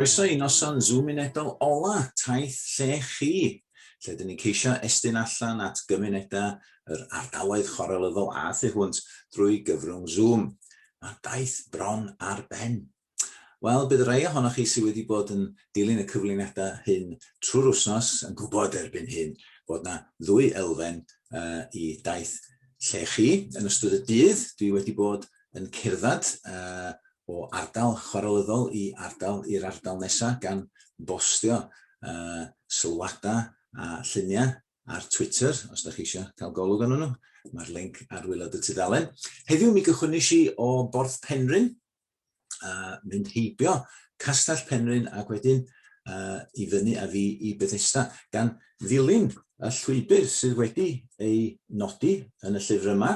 Croeso i noson Zoom unedol ola taith lle chi, lle dyn ni'n ceisio estyn allan at gymunedau yr ardaloedd chwarelyddol a thu hwnt drwy gyfrwng Zoom. Mae daith bron ar ben. Wel, bydd rhai ohonoch chi sydd wedi bod yn dilyn y cyflwyniadau hyn trwy'r wythnos yn gwybod erbyn hyn bod yna ddwy elfen uh, i daith lle chi. Yn ystod y dydd, dwi wedi bod yn cerdded uh, o ardal chwarelyddol i ardal i'r ardal nesaf gan bostio uh, sylwadau a lluniau ar Twitter, os da chi eisiau cael golwg arnyn nhw. Mae'r link ar wylod y tudalen. Heddiw mi gychwynnes i o Borth Penrhyn, a mynd heibio Castell Penrhyn ac wedyn uh, i fyny a fi i Bethesda, gan ddilyn y llwybr sydd wedi ei nodi yn y llyfr yma,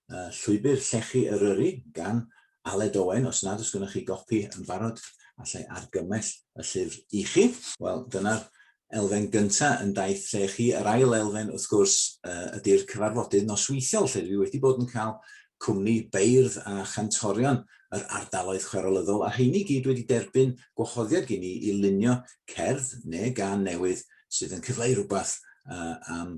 Yy Llwybr Llechi Eryri gan Aled Owen, os nad oes gennych chi gopi yn barod, allai argymell y llyfr i chi. Wel, dyna'r elfen gyntaf yn Daith Llechi. Yr ail elfen, wrth gwrs, yy ydi'r cyfarfodydd nosweithiol, lle dwi wedi bod yn cael cwmni beirdd a chantorion yr ardaloedd chwerwlyddol, a rheini i gyd wedi derbyn gwahoddiad gen i i lunio cerdd neu gân newydd sydd yn cyfleu rhywbeth yy am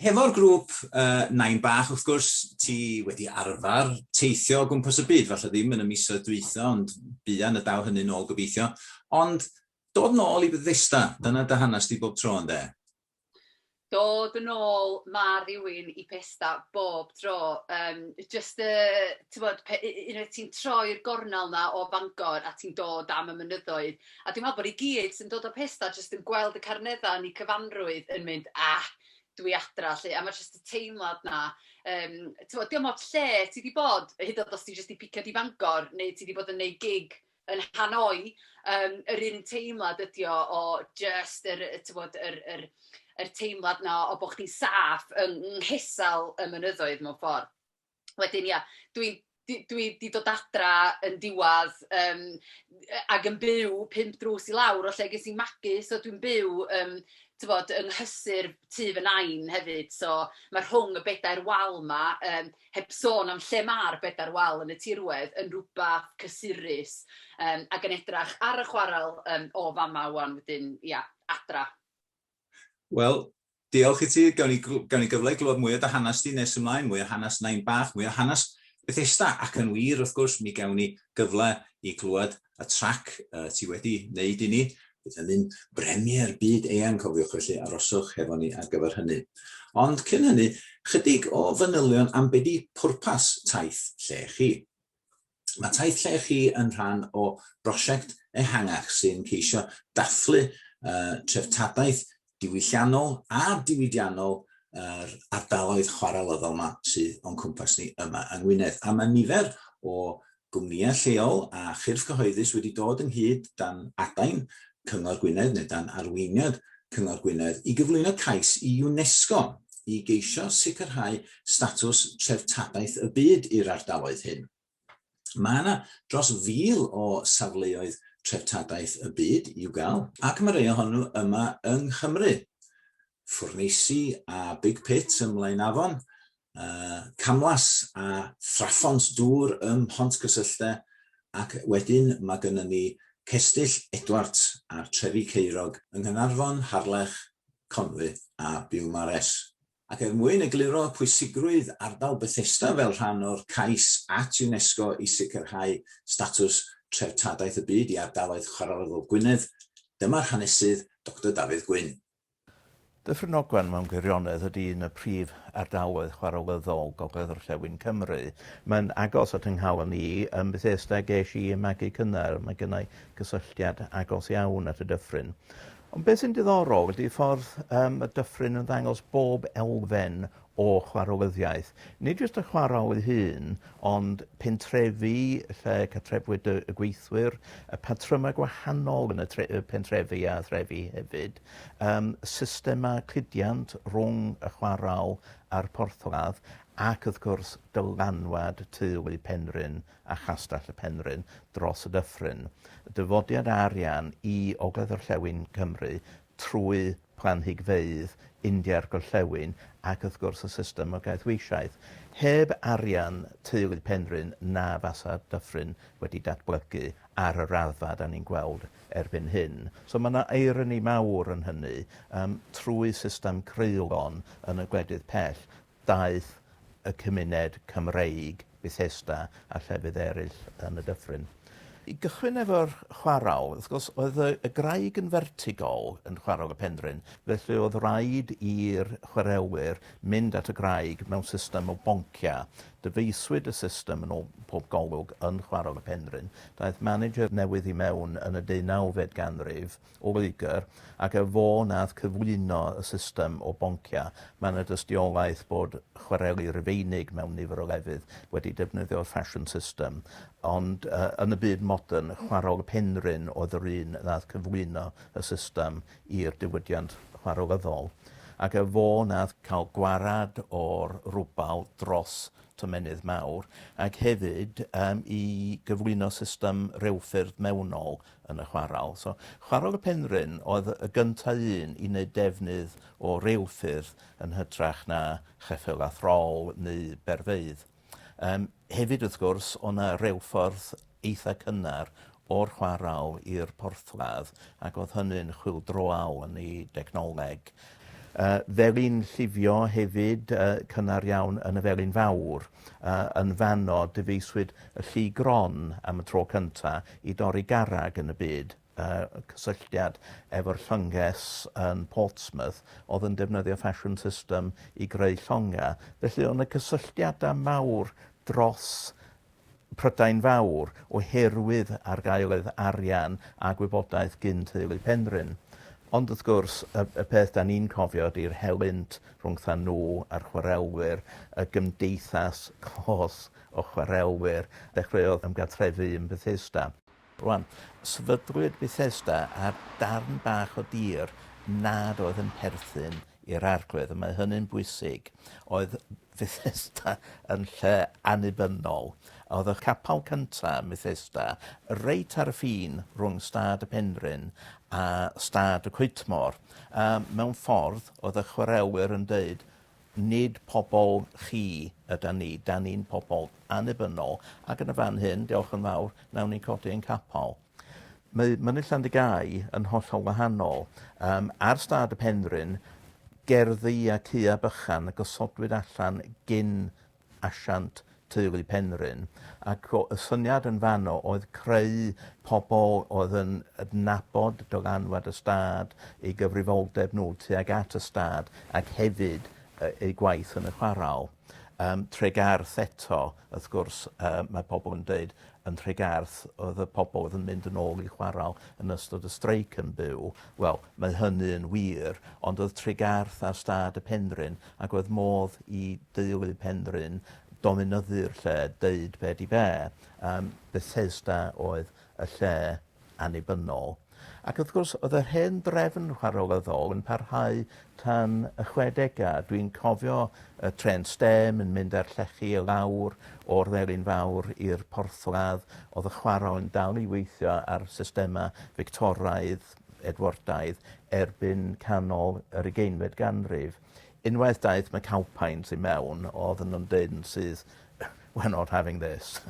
Hefo'r grŵp yy Nain Bach wrth gwrs ti wedi arfar teithio o gwmpas y byd, falle ddim yn y misoedd dwytha ond buan y daw hynny'n ôl gobeithio. Ond dod nôl i Bethesda, dyna dy hanes di bob tro ynde? Dod yn ôl ma' rhywun i Bethesda bob tro yym jyst y t'mod pe- u- u- unwaith ti'n troi'r gornel 'na o Fangor a ti'n dod am y mynyddoedd A dwi'n meddwl bod ni gyd sy'n dod o Pesda jyst yn gweld y Carneddau yn eu cyfanrwydd yn mynd, 'A, dw i adra' 'lly. A mae jyst y teimlad 'na. Yym, tibod, dio'm ots lle ti 'di bod, hyd yn oed os ti jyst 'di piciad i Fangor neu ti 'di bod yn wneud gig yn Hanoi, yym, yr un teimlad ydy o o jyst yr, tibod, yr yr yr teimlad 'na o bod chdi'n saff yng nghysel y mynyddoedd mewn ffordd. wedyn ia, dwi'n dwi, dwi di dod adra yn diwadd yym yy ac yn byw pump drws i lawr o lle ges i'n magu, so dwi'n byw yym tibod yng nghysur tŷ fy Nain hefyd, so ma' rhwng y bedair wal 'ma, yym heb sôn am lle ma'r bedair wal yn y tirwedd, yn rywbeth cysurus, yym ac yn edrych ar y chwarel yym o fama ŵan wedyn, ia, adra. Wel, Diolch i ti, gawn ni, gawn ni gyfle i glywed mwy o dy hanes di nes ymlaen, mwy o hanes Nain Bach, mwy o hanes Bethesda, ac yn wir, wrth gwrs, mi gawn ni gyfle i glywed y trac uh, ti wedi wneud i ni. Bydd hynny'n bremier byd eang, cofiwch, felly aroswch hefo ni ar gyfer hynny. Ond cyn hynny, chydig o fanylion am be di pwrpas taith lle chi. Mae Taith Lle Chi yn rhan o brosiect ehangach sy'n ceisio dathlu uh, treftadaeth diwylliannol a diwydiannol yr er ardaloedd chwarelyddol yma sydd o'n cwmpas ni yma yng Ngwynedd. A mae nifer o gwmnïau lleol a chyrff cyhoeddus wedi dod ynghyd dan adain Cyngor Gwynedd neu dan arweiniad Cyngor Gwynedd i gyflwyno cais i UNESCO i geisio sicrhau statws Treftadaeth y Byd i'r ardaloedd hyn. Mae yna dros fil o Safleoedd Treftadaeth y Byd i'w gael, ac mae rhai ohonyn nhw yma yng Nghymru. ffwrneisi a big pit ym Mlaenafon, camlas a thraphont dŵr ym Mhontcysylltau ac wedyn mae gynnon ni Cestyll Edwards a'r Trefi Ceiriog yng Nghaernarfon, Harlech, Conwy a Biwmares. Ac er mwyn egluro pwysigrwydd ardal Bethesda fel rhan o'r cais at UNESCO i sicrhau statws Treftadaeth y Byd i Ardaloedd Chwaraerofaol Gwynedd, dyma'r hanesydd, Doctor Dafydd Gwyn. Dyffryn Ogwen mewn gwirionedd ydy un y prif ardaloedd chwarelyddol Gogledd-orllewin Cymru. Mae'n agos at 'y nghalon i. Yn Bethesda ges i y magu cynnar, mae gennai gysylltiad agos iawn at y dyffryn. Ond beth sy'n diddorol ydy ffordd y mae dyffryn yn ddangos bob elfen o chwarowyddiaeth, nid jyst y chwarel ei hun, ond pentrefi lle cartrefwyd y gweithwyr, y patrymau gwahanol yn y pentrefi a threfi hefyd, yym systemau cludiant rhwng y chwarel a'r porthladd, ac wrth gwrs dylanwad teulu Penrhyn a Chastell y Penrhyn dros y dyffryn. Dyfodiad arian i ogledd-orllewin Cymru trwy planhigfeydd India'r Gorllewin ac wrth gwrs y system o gaethweishaeth. Heb arian teulu Penrhyn na fasa Dyffryn wedi datblygu ar y raddfa dan ni'n gweld erbyn hyn. So mae 'na irony mawr yn hynny. Yym trwy system creulon yn y gwledydd pell. Daeth y cymuned Cymreig, Bethesda a llefydd eraill yn y dyffryn. I gychwyn efo'r chwarel, wrth gwrs, oedd y y graig yn fertigol yn chwarel y Penrhyn, felly oedd raid i'r chwarelwyr mynd at y graig mewn system o bonciau. Dyfeisiwyd y system yn ôl pob golwg yn chwarel y Penrhyn. Daeth manager newydd i mewn yn y deunawfed ganrif, o Loegr ac er fo nath cyflwyno y system o boncia, mae yna dystiolaeth bod chwareli Rufeinig mewn nifer o lefydd wedi defnyddio'r fashion system, ond yy yn y byd modern, chwarel y Penrhyn oedd yr un nath cyflwyno y system i'r diwydiant chwarelyddol, ac er fo nath cael gwarad o'r rwbal dros tomennydd mawr, ac hefyd yym i gyflwyno system rheilffyrdd mewnol yn y chwarel. So, Chwarel y Penrhyn oedd y gynta' un i neud defnydd o reilffyrdd yn hytrach na cheffyla throl neu berfeydd. Yym hefyd wrth gwrs o' 'na reilffordd eitha' cynnar o'r chwarel i'r porthladd ac o'dd hynny'n chwyldroaol yn ei dechnoleg. Yy felin llifio hefyd yy cynnar iawn yn y Felin Fawr. Yy yn fanno dyfeiswyd y llu gron am y tro cyntaf i dorri garreg yn y byd, y cysylltiad efo'r llynges yn Portsmouth oedd yn defnyddio fashion system i greu llongau. Felly oedd 'na gysylltiadau mawr dros Prydain Fawr oherwydd argaeledd arian a gwybodaeth gyn teulu Penrhyn. Ond wrth gwrs, y, y peth da ni'n cofio ydy'r helynt rhwngthan nhw a'r chwarelwyr, y gymdeithas closg o chwarelwyr ddechreuodd ymgartrefu yn Bethesda. Rwan, sefydlwyd Bethesda ar darn bach o dir nad oedd yn perthyn i'r Arglwydd, a mae hynny'n bwysig. Oedd Fethesda yn lle annibynnol. Oedd y capel cynta ym Methesda reit ar y ffin rhwng Stad y Penrhyn a Stad y Coetmor, a mewn ffordd oedd y chwarelwyr yn deud, Nid pobl chi ydan ni, 'dan ni'n pobl annibynnol, ac yn y fan hyn, diolch yn fawr, nawn ni codi ein capal. Mae Mynydd Llandygai yn hollol wahanol. Yym, ar stad y penrhyn, gerddi a caeau bychan y gosodwyd allan gyn asiant teulu Penrhyn ac o y syniad yn fanno oedd creu pobl oedd yn adnabod dylanwad y stad, eu gyfrifoldeb nhw tuag at y stad ac hefyd eu gwaith yn y chwarel. Yym Tregarth eto wrth gwrs yy mae pobl yn deud yn Nhregarth oedd y pobl oedd yn mynd yn ôl i chwarael yn ystod y streic yn byw. Wel, mae hynny yn wir, ond oedd Tregarth ar stad y Penrhyn ac oedd modd i deulu Penrhyn dominyddu'r lle, deud be di be. Um, Bethesda oedd y lle annibynnol. Ac wrth gwrs, oedd yr hen drefn chwarelyddol yn parhau tan y chwedegau. Dwi'n cofio y trên stêm yn mynd â'r llechi i lawr o'r Felin Fawr i'r porthladd. Oedd y chwarel yn dal i weithio ar systemau Fictoraidd, Edwardaidd, erbyn canol yr ugeinfed ganrif. Unwaith daeth McAlpine tu mewn oedden nhw'n deud yn syth we're not having this.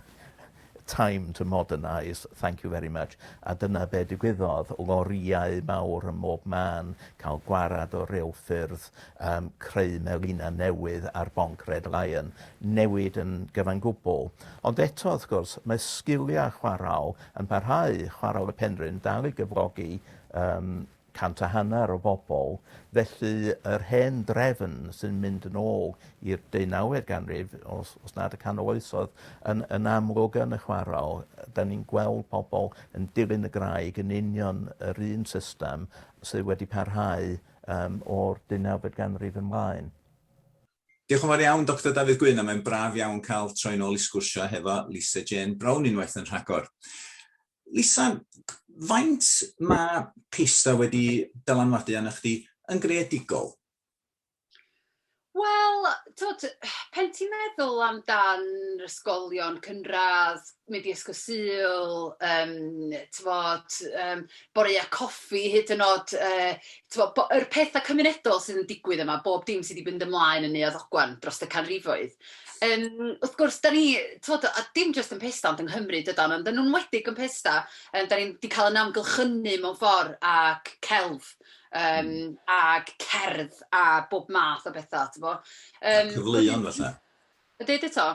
Time to modernise, thank you very much. A dyna be' digwyddodd, lorïau mawr ym mhob man, cael gwarad o rew ffyrdd, um, creu melina newydd ar bonc Red Lion, newid yn gyfan gwbl. Ond eto, wrth gwrs, mae sgiliau chwaraol yn parhau, chwaraol y Penrhyn dal i gyflogi um, Cant a hanner o bobl, felly yr hen drefn sy'n mynd yn ôl i'r deunawfed ganrif, os os nad y canol oesoedd, yn yn amlwg yn y chwarel, 'dan ni'n gweld pobl yn dilyn y graig yn union yr un system sydd wedi parhau yym o'r deunawfed ganrif yn mlaen. Diolch yn fawr iawn Doctor Dafydd Gwyn, a mae'n braf iawn cael troi'n ôl i sgwrsio hefo Lisa Jane Brown unwaith yn rhagor. Lisa, faint mae PISA wedi dylanwadu arnoch chdi yn greadigol? Wel, twod, pen ti'n meddwl amdan ysgolion cynradd, mynd i ysgol Sul, um, twod, um, boreau coffi, hyd yn oed, uh, twod, yr pethau cymunedol sydd yn digwydd yma, bob dim sydd wedi mynd ymlaen yn Neuadd Ogwan dros y canrifoedd. Yym, wrth gwrs, dan ni, tibod, a dim jyst yn Pesda ond yng Nghymru dydan, ond yn enwedig yn Pesda, yym, dan ni 'di cael ein amgylchynu mewn ffordd ac celf, yym, ac cerdd a bob math o bethau, tibod. Yym... A cyfleon falle. A deud eto?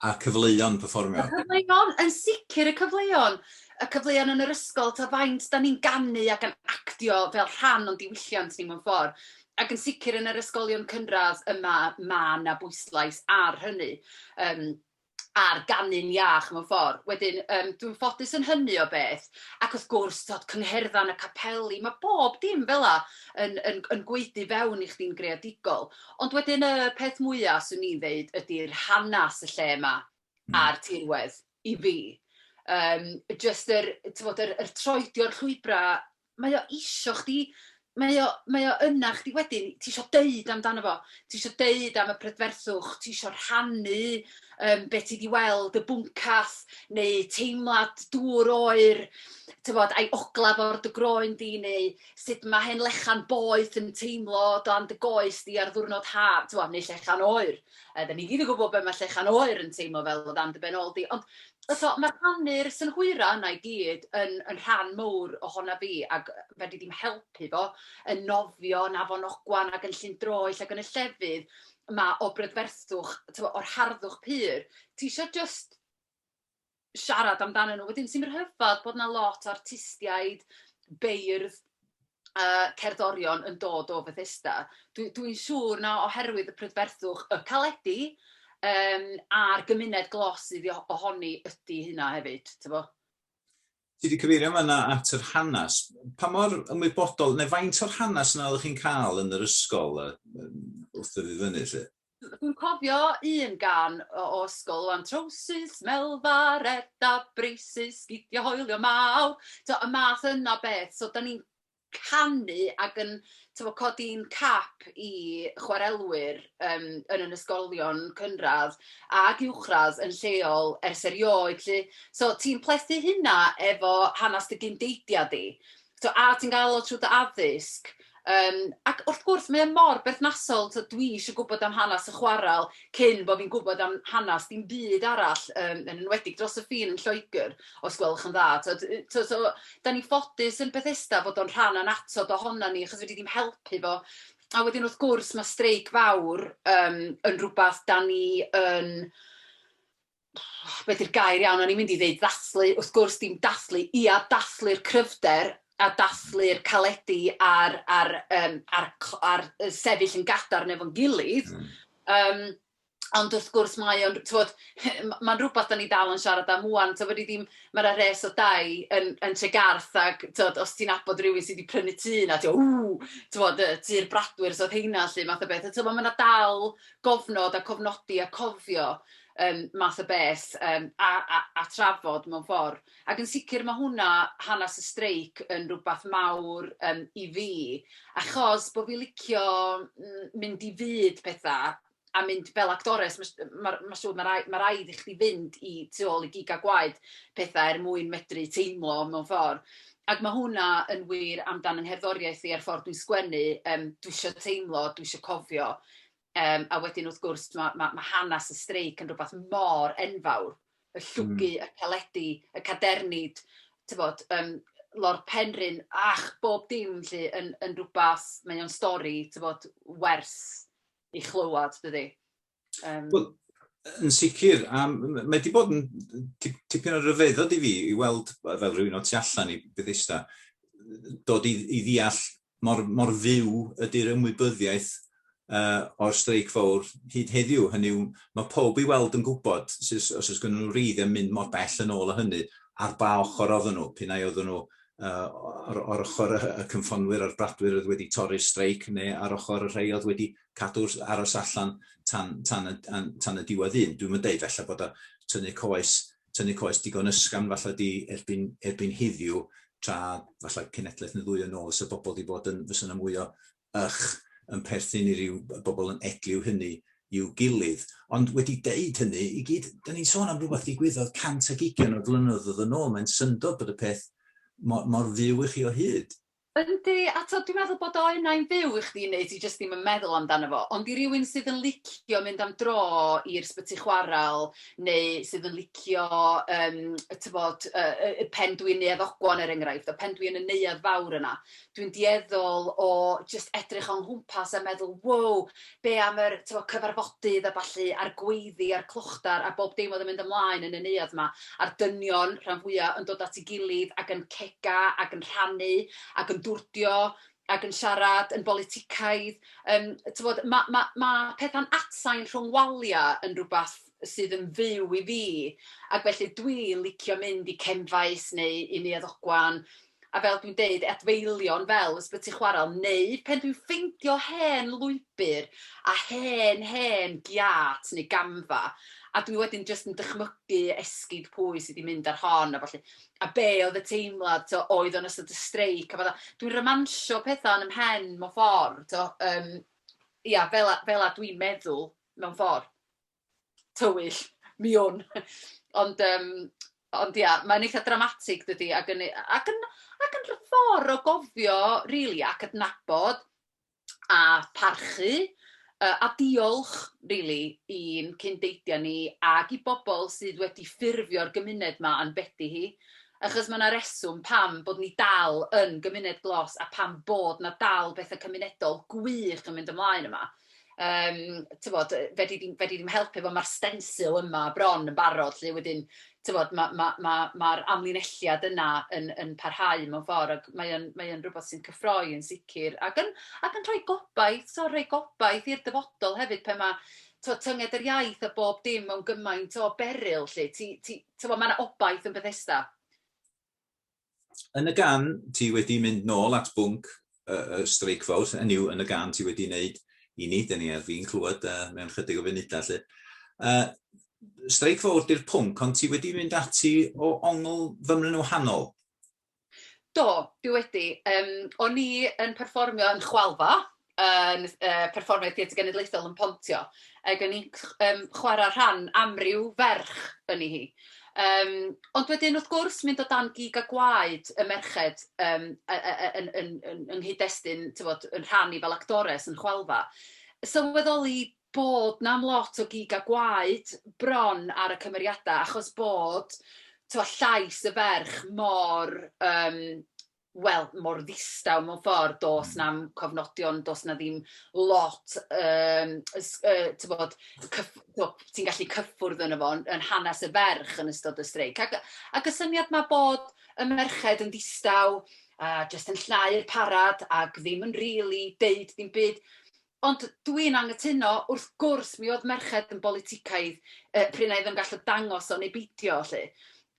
A cyfleon perfformio. Y cyfleon, yn sicr y cyfleon! Y cyfleon yn yr ysgol, tibod, faint dan ni'n ganu ac yn actio fel rhan o'n diwylliant ni mewn ffordd. Ac yn sicr yn yr ysgolion cynradd yma ma' 'na bwyslais ar hynny yym ar ganu'n iach mewn ffor'. Wedyn yym dwi'n ffodus yn hynny o beth ac wrth gwrs t'od cyngherddan a capeli ma' bob dim fela yn yn yn gwaedu fewn i chdi'n greadigol. Ond wedyn y peth mwya' swn i'n ddeud ydi'r hanas y lle 'ma a'r tirwedd i fi. Yym jyst yr t'mod yr yr troedio'r llwybra' mae o isio chdi, mae o, mae o yna chdi wedyn, ti isio deud amdano fo, ti isio deud am y prydferthwch, ti isio rhannu um, beth ti wedi weld, y bwncath, neu teimlad dŵr oer, tyfod, a'i oglaf o'r dy groen di, neu sut mae hen lechan boeth yn teimlo dan dy goes di ar ddwrnod haf, tyfod, neu llechan oer. Yy, da ni gyd yn gwybod be mae Llechen Oer yn teimlo fel o dan dy ben ôl di, ond so, mae rhannu'r synhwyra yna i gyd yn, yn rhan mowr ohona fi, ac fe di ddim helpu fo yn nofio yn Afon Ogwan ac yn Llyn Droell ac yn y llefydd mae o brydferthwch, o'r harddwch pur. Ti eisiau just siarad amdanyn nhw. Wedyn ti'n rhyfedd bod 'na lot o artistiaid, beirdd, yy cerddorion yn dod o Fethesda. Dwi dwi'n siŵr na oherwydd y prydferthwch y caledi yym a'r gymuned glos sydd o- ohoni ydy hynna hefyd, t'bo'? Ti wedi cyfeirio fanna at yr hanes. Pa mor ymwybodol, neu faint o'r hanes yna oeddech chi'n cael yn yr ysgol yy wrth ddyfu fyny 'lly? Dwi'n cofio un gan o o ysgol ŵan, trowsus, melfa, reda, braces, sgidia hoelion mawr, t'o' y math yna o beth. So 'dan ni'n canu ac yn t'mo' codi'n cap i chwarelwyr yym yn yn ysgolion cynradd ac uwchradd yn lleol ers erioed 'lly. So ti'n plethu hynna efo hanes dy gyn-deiliad di. So, a ti'n gael o trwy dy addysg. Um, ac wrth gwrs, mae mor berthnasol, so, dwi eisiau gwybod am hanes y chwarael cyn bod fi'n gwybod am hanes dim byd arall, um, yn enwedig dros y ffin yn Lloegr, os gwelwch yn dda. So, so, so, da ni ffodus yn Bethesda fod o'n rhan anatod ohono ni, achos wedi ddim helpu fo a wedyn wrth gwrs mae streic fawr um, yn rhywbeth da ni yn be 'di'r gair iawn, o'n i'n mynd i ddeud ddathlu, wrth gwrs dim dathlu, ia, dathlu'r cryfder a dathlu'r caledi a'r a'r yym a'r cl- a'r yy sefyll yn gadarn efo'n gilydd, hmm. yym ond wrth gwrs mae o'n t'wod mae'n rhywbeth da ni dal yn siarad am ŵan, t'wod fedri di'm ma' 'na res o dai yn yn Tregarth ac t'wod os ti'n abod rhywun sydd wedi prynu tŷ yna ti'n meddwl ww t'wod yy tŷ'r bradwyr so oedd heina 'lly math o beth a t'wod ma' 'na dal gofnod a cofnodi a cofio yym math o beth yym a a a trafod mewn ffor'. Ac yn sicr ma' hwnna, hanes y streic, yn rwbath mawr yym i fi, achos bo' fi licio m- mynd i fyd petha a mynd fel actores, ma' s- ma' ma' siŵr ma' rai- ma' raid i chdi fynd i tu ôl i gig a gwaed petha er mwyn medru teimlo mewn ffor', ac ma' hwnna yn wir amdan 'y ngherddoriaeth i a'r ffor dwi'n sgwennu, yym dwi isio teimlo, dwi isio cofio. Yym a wedyn wrth gwrs t'mo' ma' ma' hanes y streic yn rwbath mor enfawr, y llwgu... Hmm. ...y caledi, y cadernid, t'bod yym lord Penrhyn, ach, bob dim 'lly yn yn rwbath, mae o'n stori t'bod werth 'i chlywad dydi? Yym. Wel, yn sicr, a m- m- mae 'di bod yn tip- tipyn o ryfeddod i fi i weld, fel rhywun o tu allan i Bethesda, dod i i ddeall mor, mor fyw ydy'r ymwybyddiaeth uh, o'r streic fawr hyd heddiw. Hynny yw, mae pob i weld yn gwybod os oes gen nhw reidd yn mynd mor bell yn ôl o hynny, ar ba ochr oedden nhw, pyn ai oedden nhw uh, o'r, or ochr y cynffonwyr a'r bradwyr oedd wedi torri'r streic, neu ar ochr y rhai oedd wedi cadw aros allan tan, tan, y, tan y diwedd un. Dwi'n mynd deud felly bod o tynnu coes tynnu coes digon ysgafn falla di erbyn erbyn heddiw tra falla cenedlaeth neu ddwy yn ôl fysa bobl wedi bod yn fysa yna mwy o ych yn perthyn i ryw bobl yn edliw hynny i'w gilydd. Ond wedi deud hynny i gyd, da ni'n sôn am rhywbeth ddigwyddodd cant ag ugian o flynyddoedd yn ôl, mae'n syndod bod y peth mor, mor fyw i chi o hyd. Yndi, a t'od dwi'n meddwl bod o unai'n fyw i chdi neu ti jyst ddim yn meddwl amdano fo, ond i rywun sydd yn licio mynd am dro i'r sbyty chwarel neu sydd yn licio yym t'bod yy yy yy pen dwyn Neuadd Ogwan er enghraifft a pen dwi yn y neuadd fawr yna dwi'n dueddol o jyst edrych o'n nghwmpas a meddwl wow be' am yr t'mo' cyfarfodydd a ballu a'r gweiddi a'r clochdar a bob dim oedd yn mynd ymlaen yn y neuadd 'ma, a'r dynion, rhan fwya', yn dod at 'i gilydd ac yn cega ac yn rhannu ac yn dwrdio ac yn siarad yn boliticaidd. Yym, t'mod, ma' ma' ma' petha'n atsain rhwng walia' yn rwbath sydd yn fyw i fi, ac felly dwi'n licio mynd i Ken Faes neu i Neuadd Ogwan, a fel dwi'n deud, adfeilion fel Ysbyty Chwarel, neu pen dwi'n ffeindio hen lwybr a hen, hen giât neu gamfa, a dwi wedyn jyst yn dychmygu esgid pwy sydd wedi mynd ar hon a ballu, a be oedd y teimlad, tibod, oedd o'n ystod y streic a fatha, dwi'n romansio pethau yn 'y mhen mewn ffordd, tibod, yym, ia, fel 'na, fel 'na dwi'n meddwl, mewn ffordd. tywyll, mi wn. Ond yym ond ia, mae'n eitha' dramatig dydi ac yn e- ac yn ac yn rh- ffor o gofio rili a cydnabod a pharchu yy a diolch rili i'n cyn deiliaid ni ac i bobl sydd wedi ffurfio'r gymuned 'ma a'n bedi hi, achos ma' 'na reswm pam bod ni dal yn gymuned glos a pam bod 'na dal betha cymunedol gwych yn mynd ymlaen yma. Yym, tibod, fedri di'm fedri di'm helpu fo, ma'r stensil yma bron yn barod 'lly, wedyn tibod ma' ma' ma' ma'r amlinelliad yna yn yn parhau mewn ffor' ac mae o'n mae o'n rwbeth sy'n cyffroi yn sicr ac yn ac yn rhoi gobaith, tibod rhoi gobaith i'r dyfodol hefyd pan ma' tibod tynged yr iaith a bob dim mewn gymaint o beryl 'lly, ti ti tibod ma' 'na obaith yn Bethesda. yn y gan ti wedi mynd nôl at bwnc y, y streic fawr, hynny yw yn y gan ti wedi wneud i ni, dyn ni ar fi'n clywed uh, mewn chydig o funudau lle. Uh, streic fawr di'r pwnc, ond ti wedi mynd ati o ongl fymryn wahanol. Do, dwi wedi. Um, o'n i yn perfformio yn chwalfa, yn yy perfformiad Theatr Genedlaethol yn Pontio, ac o'n i'n ch- yym chwarae rhan amryw ferch yn ei hi. Yym, ond wedyn, wrth gwrs, mynd o dan gig a gwaed y merched yym yy yy yy yn yn yn yng nghyd-destun, tibod, yn rhannu fel actores yn y chwalfa, sylweddoli bod 'na am lot o gig a gwaed bron ar y cymeriadau achos bod, tibod, llais y ferch mor yym wel, mor ddistaw mewn ffordd, does na'm cofnodion, does 'na ddim lot, yym, ys- yy, tibod, cyff- tibod, ti'n gallu cyffwrdd yno fo, yn hanes y ferch yn ystod y streic. Ac ac y syniad 'ma bod y merched yn ddistaw a jyst yn llnau'r parad ac ddim yn rili deud dim byd, Ond dw i'n anghytuno, wrth gwrs, mi oedd merched yn boliticaidd yy pryd na oedden nhw'n gallu dangos o neu beidio 'lly.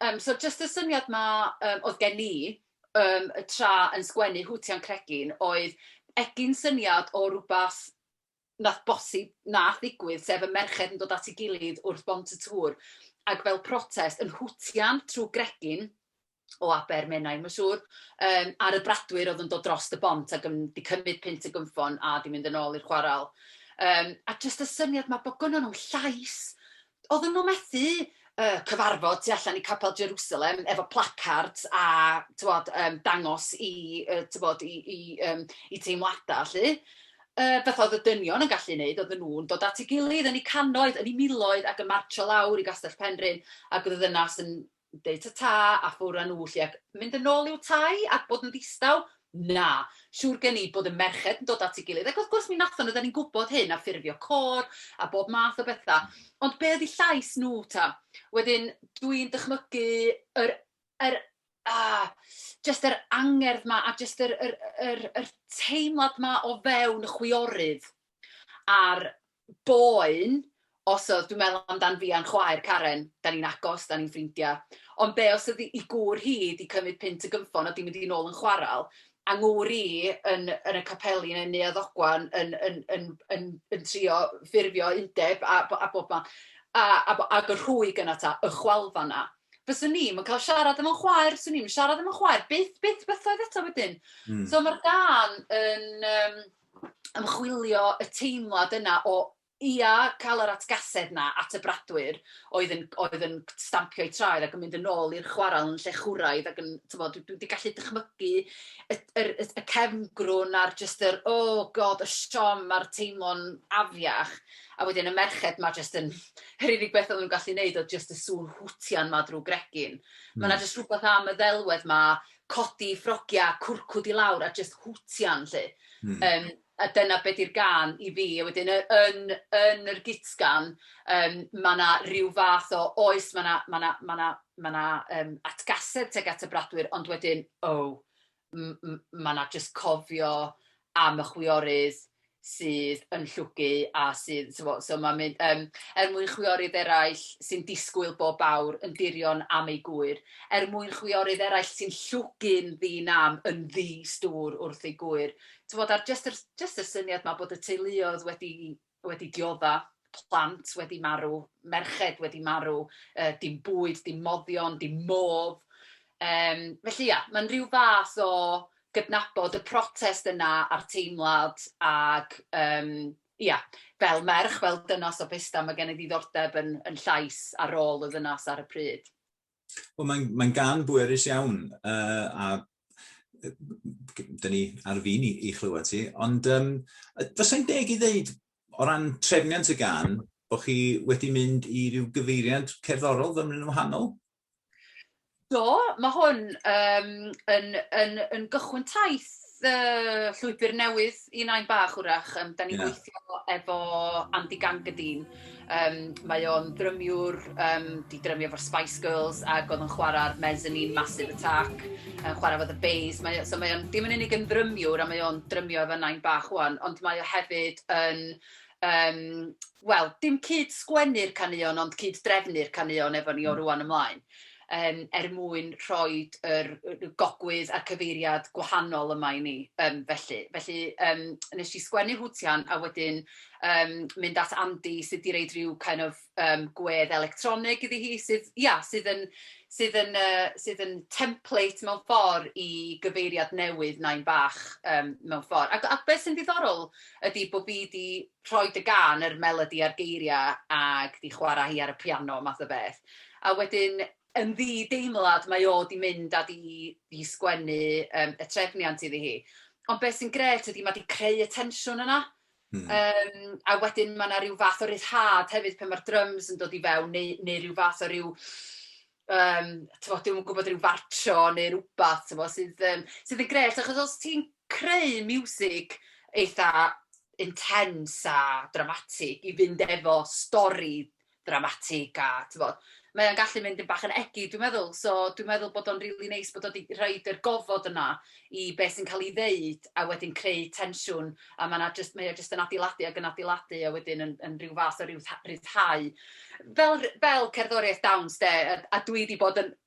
Yym so jyst y syniad 'ma yym oedd gen i yym y tra yn sgwennu Hootie and Cregin oedd egin syniad o rywbeth wnaeth bosib, wnaeth ddigwydd, sef y merched yn dod at ei gilydd wrth Bont y Tŵr ac fel protest yn hwtian trwy gregin, o Aber Menai, mae'n siŵr, yym, ar y bradwyr oedd yn dod dros y bont ac yn 'di cymryd punt y gynffon a 'di mynd yn ôl i'r chwarel. Um, a jyst y syniad mae bod gynnon nhw llais, oedden nhw methu uh, cyfarfod tu allan i Capel Jerusalem efo placard a tywod, um, dangos i, uh, tywod, i, i, um, i teimladau, lle uh, beth oedd y dynion yn gallu wneud, oedd nhw'n dod at ei gilydd yn ei canoedd, yn ei miloedd ac yn marcio lawr i Gastell Penrhyn ac oedd y ddynas yn yn deud ta-ta a ffwr â nhw 'lly, ac mynd yn ôl i'w tai a bod yn ddistaw? Na! Siŵr gen i bod y merched yn dod at ei gilydd, ac wrth gwrs mi nathon, oedden ni'n gwybod hyn, a ffurfio côr a bob math o betha', ond be' oedd 'u llais nhw ta? Wedyn, dwi'n dychmygu yr yr ah, jyst yr angerdd 'ma a jyst yr yr yr yr teimlad 'ma o fewn y chwiorydd a'r boen os oedd, dwi'n meddwl amdan fi a'n chwaer Karen, dan ni'n agos, dan ni'n ffrindiau, ond be os oedd ei gŵr hi 'di cymryd punt y gynffon a 'di mynd i nôl yn chwarel, a ngŵr i yn yn y capeli neu Neuadd Ddogwen yn yn yn yn yn trio ffurfio undeb a bo- a bob man, a a bo- ag y rhwyg yna ta, y chwalfa 'na. Fyswn i'm yn cael siarad efo'n chwaer, 'swn i'm yn siarad efo'n chwaer, byth, byth bythoedd eto wedyn. So mae'r gân yn yym ymchwilio y teimlad yna o, ia, cael yr atgasedd 'na at y bradwyr oedd yn oedd yn stampio'u traed ac yn mynd yn ôl i'r chwarel yn llechwraidd ac yn, timod, dwi wedi gallu dychmygu y yr y y cefngrwn a'r jyst yr oh God y siom a'r teimlo'n afiach a wedyn y merched 'ma jyst yn yr unig beth oedden nhw'n gallu neud oedd jyst y sŵn hwtian 'ma drwy gregyn. Mae 'na hmm. jyst rhywbeth am y ddelwedd 'ma codi ffrogia cwrcwd i lawr a jyst hwtian 'lly. Hmm. Yym a dyna be 'di'r gân i fi a wedyn yy yn yn yr gutgan yym ma' 'na ryw fath o oes ma' 'na ma' 'na ma' 'na ma' 'na yym atgasedd tuag at y bradwyr ond wedyn oh m- m- ma' 'na jyst cofio am y chwiorydd sydd yn llwgu a sydd t'mo' so ma'n mynd yym er mwyn chwiorydd eraill sy'n disgwyl bob awr yn dirion am eu gŵyr, er mwyn chwiorydd eraill sy'n llwgu'n ddi-nam yn ddi-stŵr wrth eu gŵyr. T'mod a'r jyst yr jyst y syniad 'ma bod y teuluoedd wedi wedi diodda'. plant wedi marw, merched wedi marw, yy dim bwyd, dim moddion, dim modd. Yym, felly ia, mae'n rhyw fath o gydnabod y protest yna a'r teimlad ac yym ia, fel merch, fel dynas o Pesda, mae gen i ddiddordeb yn yn llais a rôl y ddynas ar y pryd. Wel, mae'n mae gan bwerus iawn, uh, a dyn ni ar fin i, i chlywed ti, ond um, fysa'n deg i ddeud o ran trefniant y gan, bod chi wedi mynd i ryw gyfeiriad cerddorol fymryn yn wahanol? Do, mae hwn um, yn, yn, yn gychwyn taith y llwybr newydd i Nain Bach wrach. Um, da ni'n yeah. gweithio efo Andy Gangadine. Um, mae o'n drymiwr, um, di drymio efo'r Spice Girls ac oedd yn chwarae'r Mezzanine Massive Attack, yn chwarae fod y Bays. Mae, so mae o'n, dim yn unig yn drymiwr a mae o'n drymio efo Nain Bach wan, ond mae o hefyd yn um, wel, dim cyd sgwennu'r caneuon, ond cyd drefnu'r caneuon efo ni o hmm. rwan ymlaen, um, er mwyn rhoi yr, yr gogwydd a'r cyfeiriad gwahanol yma i ni. Um, felly, felly um, nes i sgwennu hwtian a wedyn um, mynd at Andy sydd wedi reid rhyw kind of um, gwedd electronig iddi hi sydd, ia, sydd yn, sydd yn, uh, sydd yn template mewn ffordd i gyfeiriad newydd nain bach um, mewn ffordd. Ac, ac beth sy'n ddiddorol ydy bod fi wedi rhoi dy gan yr melodi a'r geiriau ac di chwarae hi ar y piano math o beth. A wedyn yn ddi deimlad mae o di mynd a di, di sgwennu um, y trefniant iddi hi. Ond beth sy'n gret ydy mae di creu y tensiwn yna. Hmm. Um, a wedyn mae yna rhyw fath o ryddhad hefyd pan mae'r drums yn dod i fewn, neu, neu rhyw fath o rhyw... Um, tyfo, dwi'n gwybod rhyw fartio neu rhywbeth, tyfo, sydd, um, sydd yn gret, achos os ti'n creu music eitha intense a dramatic i fynd efo stori ddramatig a tibod, mae o'n gallu mynd yn bach yn egin dwi'n meddwl. So dwi'n meddwl bod o'n rili neis bod o 'di rhoid yr gofod yna i be sy'n cael ei ddeud a wedyn creu tensiwn a mae 'na jyst... mae o jyst yn adeiladu ac yn adeiladu a wedyn yn yn ryw fath o ryddhau. Fel fel cerddoriaeth dawns de a a dwi 'di bod yn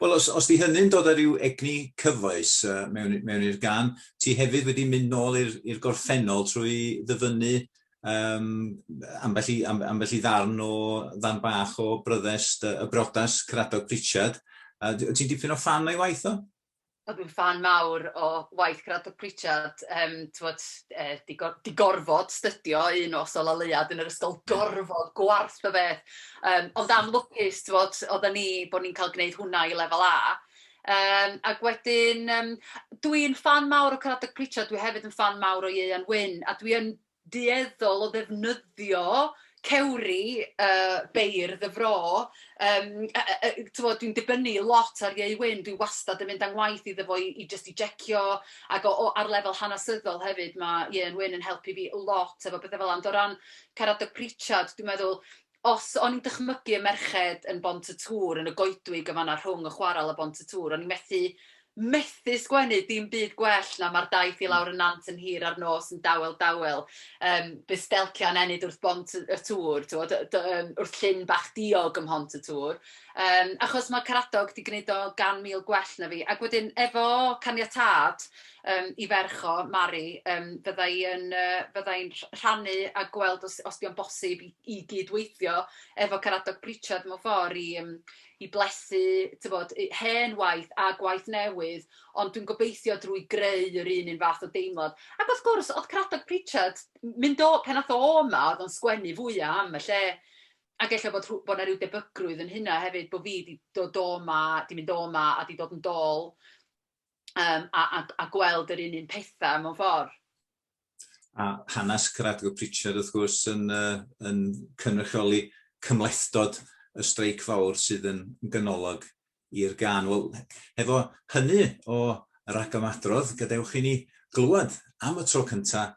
Wel, os, os di hynny'n dod ar ryw egni cyfoes uh, mewn, mewn i'r gan, ti hefyd wedi mynd nôl i'r gorffennol trwy ddyfynnu um, ambell, i, am, ambell i ddarn o ddarn bach o bryddest y brodas Cradog Pritchard. Uh, ti'n dipyn o fan o'i waith o? A dwi'n ffan mawr o waith Caradog Pritchard, yym, t'mod, yy, 'di go- 'di gorfod stydio un nos o laleuad yn yr ysgol, gorfod, gwarth o beth, yym, ond am lwcus, t'mod, oedden ni, bo' ni'n cael gwneud hwnna i lefel A, yym, ac wedyn yym dwi'n ffan mawr o Caradog Pritchard, dwi hefyd yn ffan mawr o Ieuan Wyn, a dwi yn dueddol o ddefnyddio cewri yy beirdd y fro yym yy yy yy t'mod dwi'n dibynnu lot ar Ieu Wyn dwi wastad yn mynd â ngwaith iddo fo i i jyst i jecio ag o o ar lefel hanesyddol hefyd ma' Ieuan Wyn yn helpu fi lot efo pethe fela ond o ran Caradog Pritchard dwi'n meddwl os o'n i'n dychmygu y merched yn Bont y Tŵr, yn y goedwig yn fan'na rhwng y chwarel a Bont y Tŵr, o'n i'n methu, methu sgwennu dim byd gwell na 'Ma'r daith i lawr y nant yn hir a'r nos yn dawel, dawel, yym, bydd stelcio yn ennyd wrth Bont y Tŵr, t'mod, yy d- yym, wrth llyn bach diog ym Mhont y Tŵr, yym, achos ma' Caradog 'di gwneud o gan mil gwell na fi, ac wedyn efo caniatâd, yym 'i ferch o, Mari, yym fydda i yn yy fydda i'n rh- rhannu a gweld os os 'di o'n bosib i i gyd-weithio efo Caradog Pritchard mewn ffor i yym i blethu t'bod yy hen waith a gwaith newydd, ond dwi'n gobeithio drwy greu yr un un fath o deimlad. Ac wrth gwrs, o'dd Caradog Pritchard, m- mynd o, pan ath o 'ma, o'dd o'n sgwennu fwya' am y lle, ac ella bod rhw- bod 'na ryw debygrwydd yn hynna hefyd, bo' fi 'di dod o 'ma, 'di mynd o 'ma a 'di dod yn dôl. um, a, a, a gweld yr un un pethau mewn ffordd. A hanes Caradgo Pritchard wrth gwrs yn, uh, yn cynrychioli cymlethdod y streic fawr sydd yn ganolog i'r gan. Wel, hefo hynny o ragymadrodd, gadewch i ni glywed am y tro cyntaf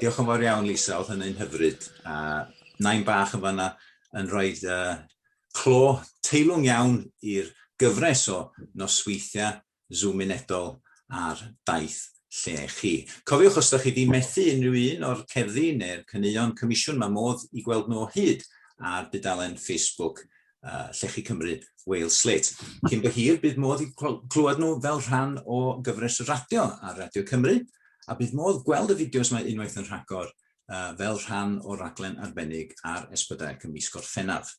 Diolch yn fawr iawn Lisa, oedd hynny'n hyfryd, a nain bach yn fanna yn rhoi uh, clo teilwng iawn i'r gyfres o nosweithiau Zoom unedol ar daith lle chi. Cofiwch os ydych chi wedi methu unrhyw un o'r cerddi neu'r caneuon comisiwn, mae modd i gweld nhw o hyd ar dudalen Facebook uh, Llechi Cymru, Wales Slate. Cyn by hir, bydd modd i clywed nhw fel rhan o gyfres y radio ar Radio Cymru, a bydd modd gweld y fideos mae unwaith yn rhagor uh, fel rhan o raglen arbennig ar esbydau y mis Gorffennaf.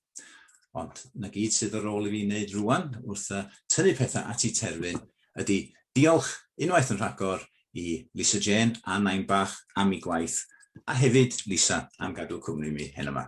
Ond na gyd sydd ar ôl i fi wneud rwan wrth uh, tynnu pethau at i terfyn ydy diolch unwaith yn rhagor i Lisa Jane a Nain Bach am ei gwaith a hefyd Lisa am gadw cwmni mi hen yma.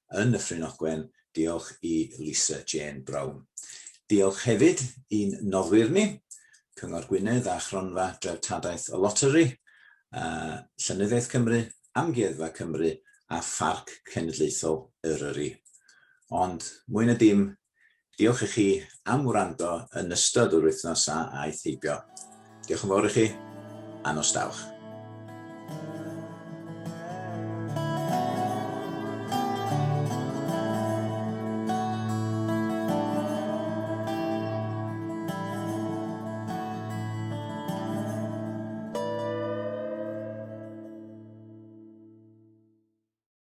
yn Nyffryn Ogwen, diolch i Lisa Jane Brown. Diolch hefyd i'n noddwyr ni, Cyngor Gwynedd a Chronfa Dreftadaeth y Loteri, a Llenyddiaeth Cymru, Amgueddfa Cymru a Pharc Cenedlaethol Eryri. Ond, mwy na dim, Diolch i chi am wrando yn ystod yr wythnos a aeth heibio. Diolch yn fawr i chi, a nos dawch.